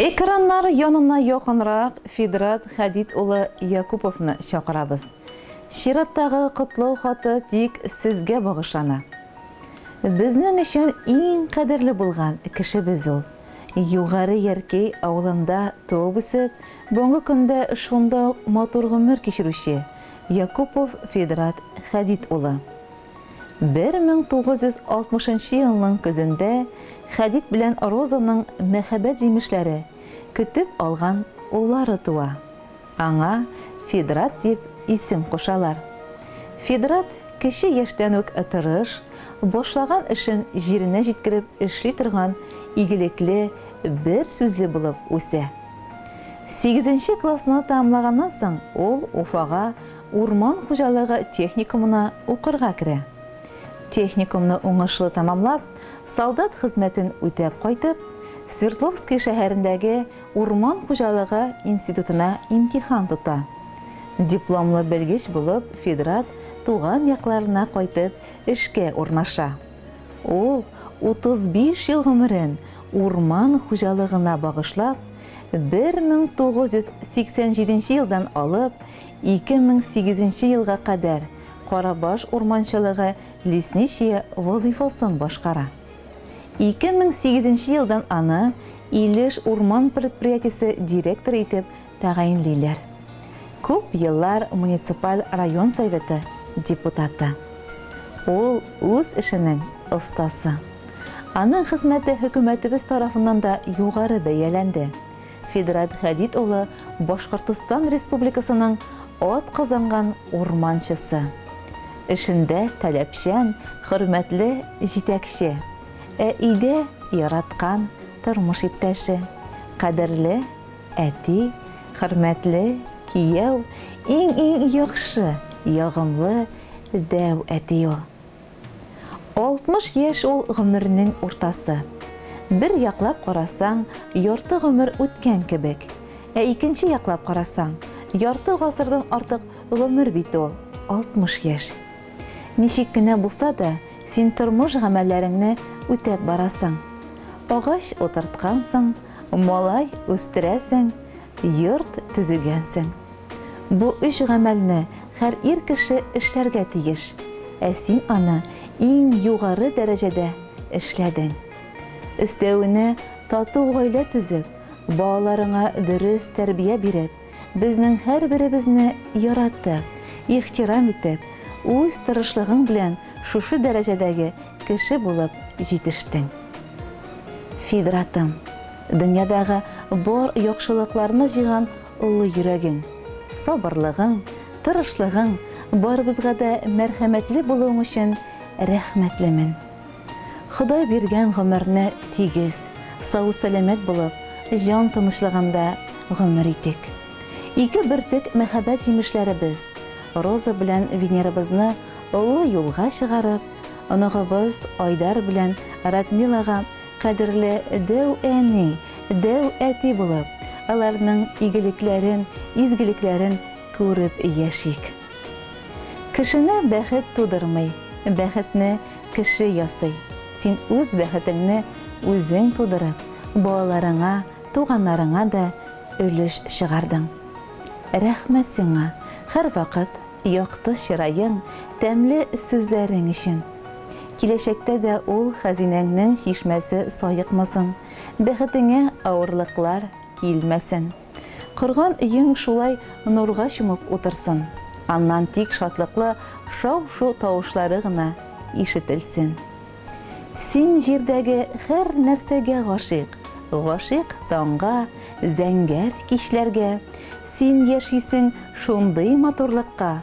Экраннар янына якынрак Фидрат Хәдид улы Якуповны чакырабыз. Чираттагы котлау хаты тик сезгә багышлана. Безнең өчен иң кадерле булган кешебез ул. Югары Яркәй авылында туып-үсеп, бүгенге көндә шунда ук матур гомер кичерүче Якупов Фидрат Хәдид улы. 1960 нчы елның көзендә Хәдид белән Розаның мәхәббәт җимешләре, көтеп алган уллары туа. Аңа Фидрат дип исем кушалар. Фидрат кече яшьтән үк тырыш, башлаган эшен җиренә җиткереп эшли торган игелекле, бер сүзле булып үсә. Сигезенче классны тәмамлаганнан соң ул Уфага Урман хуҗалыгы техникумына укырга керә. Техникумны уңышлы тәмамлап, солдат хезмәтен үтәп кайтып, Свердловски шәһәрендәге урман хуҗалыгы институтына имтихан тота. Дипломлы белгеч булып Федрат туган якларына кайтып эшкә урнаша. Ул 35 ел гомерен урман хуҗалыгына багышлап, 1987 елдан алып 2008 нче елга кадәр Карабаш урманчылыгы лесничие вазыйфасын башкара. 2008 нче елдан аны Илеш урман предприятиесе директоры итеп тәгаенлиләр. Күп еллар муниципаль район советы депутаты. Ул, үз эшенең остасы. Аның хезмәте хөкүмәтебез тарафыннан да югары бәяләнде. Федрат Хәдид улы Башкортостан Республикасының атказанган урманчысы. Эшендә таләпчән, хөрмәтле җитәкче. Ә өйдә яраткан тормыш иптәше, кадерле әти, хөрмәтле кияү, иң-иң яхшы, ягымлы, дәү әти ул. Алтмыш яшь ул гомернең уртасы. Бер яклап карасаң, ярты гомер үткән кебек. Ә икенче яклап карасаң, ярты гасырдан артык гомер бит ул, алтмыш яшь. Ничек кенә булса да, син тормыш гамәлләреңне үтәп барасың. Агач утырткансың, малай үстерәсең, йорт төзегәнсең. Бу өч гамәлне хәр ир кеше эшләргә тиеш, ә син аны иң югары дәрәҗәдә эшләдең. Өстәвенә, тату гаилә төзеп, балаларыңа дөрес тәрбия биреп, безнең һәрберебезне яратып, ихтирам итеп, үз тырышлыгың белән шушы дәрәҗәдәге кеше булып җитештең. Фидратым, дөньядагы бар яхшылыкларны җыйган олы йөрәгең, сабырлыгың, тырышлыгың, барыбызга да мәрхәмәтле булуың өчен рәхмәтлемен. Ходай биргән гомерне тигез, сау-сәламәт булып, җан тынычлыгында гомер итик. Ике бөртек мәхәббәт җимешләребез, Роза белән Венерабызны олы юлга чыгарып, оныгыбыз Айдар белән Радмилага Кадерле дәү әни, дәү әти булып, аларның игелекләрен, изгелекләрен күреп яшик. Кешене бәхет тудырмый, бәхетне кеше ясый. Син үз бәхетеңне үзең тудырып, балаларыңа, туганнарыңа да өлеш чыгардың. Рәхмәт сиңа, һәрвакыт якты чыраең, тәмле сүзләрең өчен! Киләчәктә дә ул хәзинәңнең чишмәсе саекмасын, бәхетеңә авырлыклар килмәсен. Корган өең шулай нурга чумып утырсын, аннан тик шатлыклы шау-шу тавышлары гына ишетелсен. Син җирдәге һәр нәрсәгә гашыйк, гашыйк таңга, зәңгәр кичләргә. Син яшисең шундый матурлыкка,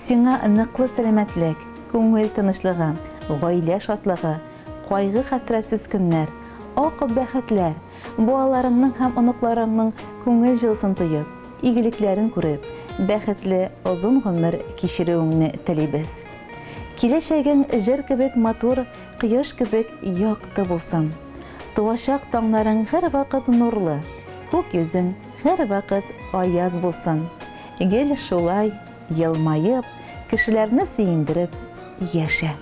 Сиңа ныклы сәламәтлек, күңел тынычлыгы, гаилә шатлыгы, кайгы-хәсрәтсез көннәр, ак бәхетләр, балаларыңның һәм оныкларыңның күңел җылысын тоеп, игелекләрен күреп, бәхетле озын гомер кичерүеңне телибез. Киләчәгең җыр кебек матур, кояш кебек якты булсын. Туачак таңнарың һәрвакыт нурлы, күк йөзең һәрвакыт аяз булсын. Гел шулай елмаеп, кешеләрне сөендереп яшә.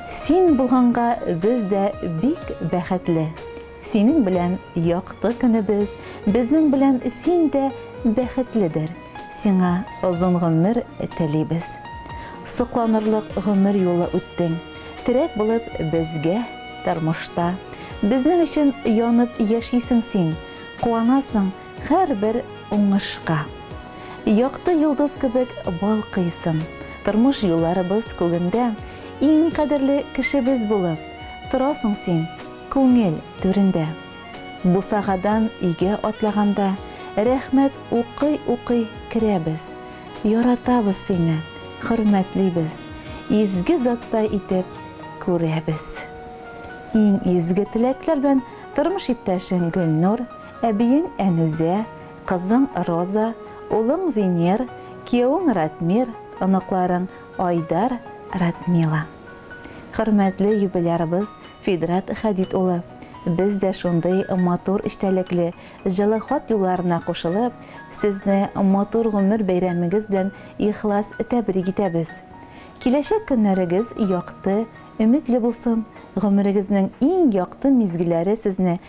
Син булганга без дә бик бәхетле. Синең белән якты көнебез, безнең белән син дә бәхетледер. Сиңа озын гомер телибез. Сокланырлык гомер юлы үттең. Терәк булып безгә тормышта. Безнең өчен янып яшисең син, куанасың, Һәрбер уңышка. Якты йолдыз кебек балкыйсың. Тормыш юлларыбыз күгендә. Иң кадерле кешебез булып. Торасың син күңел түрендә. Бусагадан өйгә атлаганда. Рәхмәт укый-укый керәбез. Яратабыз сине, хөрмәтлибез. Изге заттай итеп күрәбез. Иң изге теләкләр белән тормыш иптәшең Гөлнур. Әбиең Әнүзә, кызың Роза, улың Венер, киявең Ратмир, оныкларың Айдар, Радмила. Хөрмәтле юбилярыбыз Фидрат Хәдид улы, без дә шундый матур эчтәлекле, җылы хат юлларына кушылып, сезне матур гомер бәйрәмегез белән ихлас тәбрик итәбез. Киләчәк көннәрегез якты, өметле булсын, гомерегезнең иң якты мизгелләре сезне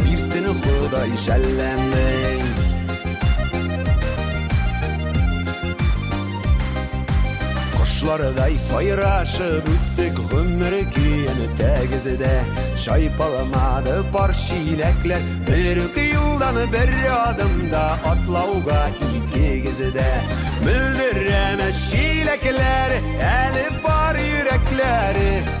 Бирсен Ходай шәлләмең. Кошлардай сайрашып үстек гомер көен тәгезедә Чайпаламады пар чиләкләр Бер үк юлдан бер адымда атлауга икегезедә Мөлдерәмә чиләкләр әле бар йөрәкләре